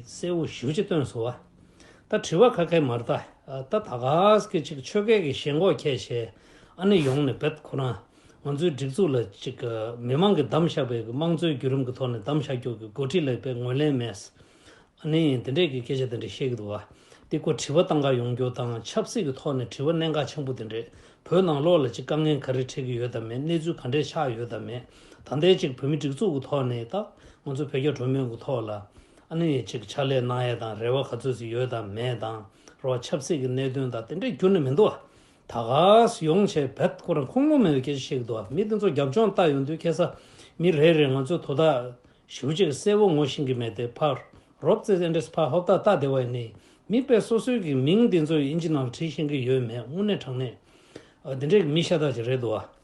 གསལ་བོ་ཞུ་ཅི་སྟོན་ཟོ་བ། ད་དྲི་བ་ཁ་ཁའི་མར་ལྟ། ད་ད་ག་གི་ཅིག་ཆོས་སྐད་ཀྱི་ཞེན་ཁོག་ཁྱད་ཞེ་ཨ་ནི་ཡོང་ནི་བེད་ཁོ་རང་ང་ཚོའི་སྒྲིག་འཛུགས་ལ་ཅིག་མི་མང་གི་གདམ་བཞག་བེད་དམངས་གཙོའི་བརྒྱུད་རིམ་གི་ཐོག་ནས་གདམ་བཞག་རྒྱོག་གི་འགོ་ཁྲིད་ལ་བེད་ངོས་ལེན་མེད་ཨ་ནི་དེ་འདྲས་ཀྱི་སྐད་ཆ་དེ་འདྲས་བཤད་གི་འདུག་བ་དེ་ཁོ་དྲི་བ་བཏང་ག་ཡོང་རྒྱུ་དང་ཆབ་སྲིད་ཀྱི་ཐོག་ནས་དྲི་བ་གནན་ག་ཆེན་པོ་དེ་འདྲས་བོད་ནང་ལོག་ལ་ཅིག་དཀའ་ངལ་ག་རེ་འཕྲད་གི་ཡོད་དམ་མེད་གནས་ཚུལ་ག་འདྲས་ཆགས་ཡོད་དམ་མེད། ད་ལྟའི་ཆིག་བོད་མི་སྒྲིག་འཛུགས་ཀྱི་ཐོག་ནས་ད་ང་ཚོ་བོད་རྒྱ་གྲོས་མོལ་གྱི་ཐོག་ལ་ཨ་ནུ་ཡེ་ཆིག་ཕྱག་ལས་གནང་ཡས་དང་རེ་བ་ག་ཚོད་ཟིག་ཡོད་དང་མེད་དང་རོ་ཆབ་སྲིད་ཀྱི་གནད་དོན་དང་དེ་འདྲའི་འགྱུར་ནི་མི་འདུག་བ། ད་ག་ཟི་ཡོང་བྱས་བེད་སྐོར་རང་ཁུངས་ལུང་མེད་པའི་སྐད་ཆ་ཞིག་འདུག་བ་མི་དེ་ཚོ་རྒྱབ་ལྗོངས་ལྟ་ཡོང་དུས་ཁེ་ས་མི་རེ་རེ་ང་ཚོའི་དོ་ད་ཞུ་བྱས་གསལ་བོ་ངོ་ཤེས་ཀྱི་མེད་དེ་ཕ་རོབ་ཙེ་ཙེ་འདྲེས་ཕ་ཧོབ་ད་ལྟ་དེ་བ་ནི་མི་དཔེ་སོ་སོའི་གི་མིང་དེ་ཚོ་ཡིན་ཅི་ནང་བྲིས་ཤེས་ཀྱི་ཡོད་མེད་དངོས་གནས་དྲང་གནས་དེ་འདྲའི་གི་མི་ཤ་སྟག་ཅིག་རེད་འདུག་བ།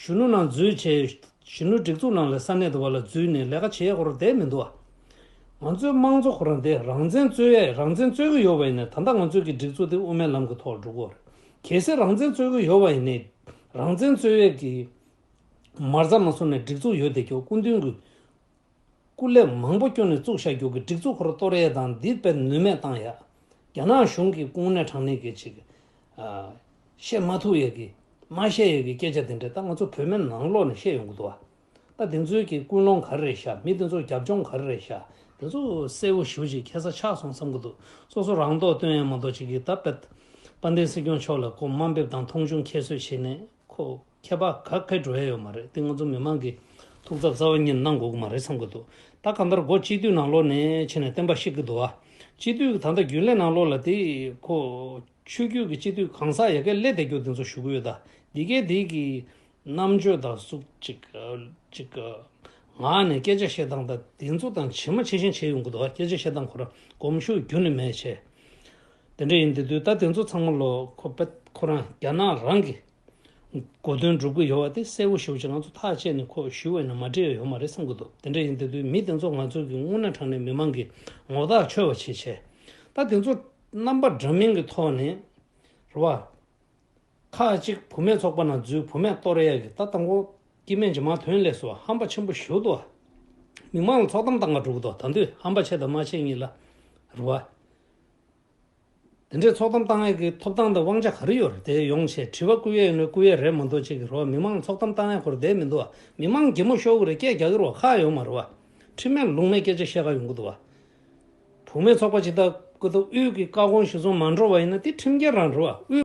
གཞོན་ནུ་ནང་འཛུལ་བྱས། གཞོན་ནུ་སྒྲིག་འཛུགས་ནང་ལས་ས་གནས་དུ་བ་ལ་འཛུལ་ནས་ལས་ཀ་བྱེད་ཡས་ཁོ་རང་བསྡད་མི་འདུག་ཨ། ང་ཚོའི་དམངས་གཙོ་ཁོ་རང་བསྡད་རང་བཙན་རྩོད་ཡས་རང་བཙན་རྩོད་གི་ཡོད་བ་ཡིན་ནས་ད་ལྟ་ང་ཚོས་ཀྱི་སྒྲིག་འཛུགས་དེ་དབུ་མའི་ལམ་གྱི་ཐོག་འགྲོ་གི་འོར་གལ་སྲིད་རང་བཙན་རྩོད་གི་ཡོད་བ་ཡིན་ནས་རང་བཙན་རྩོད་ཡས་ཀྱི་མར་ཟ་མ་ཟོ་ནས་སྒྲིག་འཛུགས་ཡོད་བསྡད་རྒྱུ་སྐུ་མདུན་གྱི། སྐུ་ལས་མང་པོ་བསྐྱོན་ནས་བཙུགས་བཞག་རྒྱུག་གི་སྒྲིག་འཛུགས་ཁོར་གཏོར་ཡས་དང་འདི་སྤེལ་ནུས་མེད་བཏང་ཡག། རྒྱ་ནག་གཞུང་གི་སྐུང་ནད་དྲག་ནད་ཀྱི་ཅིག། བཤད་མ་ཐུབ་ཡས་ཀྱི། མ་བཤད་ཡས་ཀྱི་སྐད་ཆ་དེ་འདྲ་ད་ང་ཚོ་བོད་མའི་ནང་ལོག་ནས་བཤད་ཡོང་གི་འདུག་བ། ད་དེ་ཚོའི་ཀྱི་ཀུན་སློང་ག་རེ་རེད་བཞག་མི་དེ་ཚོར་རྒྱབ་ལྗོངས་ག་རེ་རེད་བཞག་དེ་ཚོ་གསལ་བོ་ཞུ་ཅིག་ཁྱེད་ས་ཆགས་སོང་བསམ་གྱི་འདུག་སོ་སོ་རང་མདོག་སྟོན་ཡས་མ་མདོག་ཅིག་གིས་ད་དཔལ། དཔལ་ལྡན་སྲིད་སྐྱོང་མཆོག་ལ་སྒོ་མ་འབེབས་དང་མཐོང་ཆུང་ཁྱད་གསོད་བྱེད་ནས་ཁོ། ཁྱད་པར་ག་གེ་འགྲོ་ཡ་ཡོད་མ་རེད་དེ་ང་ཚོ་མི་མང་གི་ཐུགས་འཚབ་རྩ་བ་ཉིད་གནང་དགོས་ཀྱི་མ་རེད་བསམ་གྱི་འདུག་ད་གང་ལྟར་སྒོ་གཅིག་སྡུད་ནང་ལོགས་ནས་ཕྱི་ནས་བསྟན་པ་བཤད་ཀྱི་འདུག་ཨ། སྤྱི་འཐུས་ཀྱི་ད་ལྟ་རྒྱུན་ལས་ནང་ལོགས་ལ་དེ་ཁོ། ཆོས་རྒྱུད་ཀྱི་སྤྱི་འཐུས་གང་ཟག་ཡ་གེ་ལས་འདེད་རྒྱུ་དེ་ཚོ་ཞུ་གི་ཡོད་ད་འདི་གའི་དེ་གི། རྣམ་དཔྱོད་དང་གཟུགས། ཅིག། ངག་ནས་སྐད་ཆ་བཤད་སྟངས་ད་དེ་ཚོ་དང་ཇི་མ་ཇི་བཞིན་བྱས་ཡོང་གི་འདུག་ཨ་སྐད་ཆ་བཤད་སྟངས་ཁོ་རང་གོམས་ཤུགས་རྒྱུན་ནས་མེད་བྱས། དེ་འདྲ་ཡིན་དེ་དུས་ད་དེ་ཚོ་ཚང་མ་ལོགས་ཁོ་པད་ཁོ་རང་རྒྱ་ནག་རང་གི། གོ་དོན་སྒྲུབ་གི་ཡོད་བ་དེ་གསལ་བོ་ཞུ་བྱས་ང་ཚོ་ཐག་བཅད་ནས་ཁོ་ཞུས་བས་ན་མ་འགྲིག་ཡ་ཡོད་མ་རེད་བསམ་གི་འདུག་དེ་འདྲ་ཡིན་དེ་དུས་མི་དེ་ཚོ་ང་ཚོ་གི་སྔུན་ན་དྲང་ནས་མི་མང་གི་ངོ་རྟགས་འཆོལ་བ་བྱེད་བྱས་ད་དེ་ཚོ་རྣམ་པ་འདྲ་མིན་གི་ཐོག་ནས་རེད་བ། ཁག་ཅིག་བུ་མེད་ཚོགས་པ་ན་རྫུས་བུ་མེད་ཏོ་རེ་ཡ་གི་ད་ལྟ་མགོ་སྐྱེས་མན་ཇི་མ་དོན་ལས་སུ་ཧམ་པ་ཆེན་པོ་ཞུ་དོ། མི་མང་ལ་ཚོགས་གཏམ་བཏང་ག་འགྲོ་གི་འདུག་ད་དུས་ཧམ་པ་བྱས་དང་མ་བྱས་གཉིས་ལ་རེད་བ། དེ་འདྲའི་ཚོགས་གཏམ་གཏང་ཡས་ཀྱི་ཐོབ་ཐང་དང་དབང་ཆ་ག་རེ་ཡོད་རེད་དེ་ཡོང་བྱས་དྲི་བ་བསྐུལ་ཡས་ནོ་བསྐུལ་ཡས་རེད་མ་འདུག་ཅིག་གི་རོ་མི་མང་ཚོགས་གཏམ་གཏང་ཡས་ཁོར་བསྡད་མི་འདུག་བ་མི་མང་གད་མོ་ཤོར་གི་རེད་སྐད་རྒྱག་གི་རོ་ཁག་ཡོད་མ་རེད་བ། ཁྲིམས་མེད་ལུགས་མེད་སྐད་ཆ་བཤད་ག་ཡོང་གི་འདུག་བ། བུ་མེད་ཚོགས་པ་ཅིག་ལྟ་སྐུ་ལྟ་དབུས་ཀྱི་བཀའ་དགོངས་གཞི་བཟུང་མ་འགྲོ་བ་ཡིན་ན་དེ་ཁྲིམས་འགལ་རང་རེད་བ་དབུས།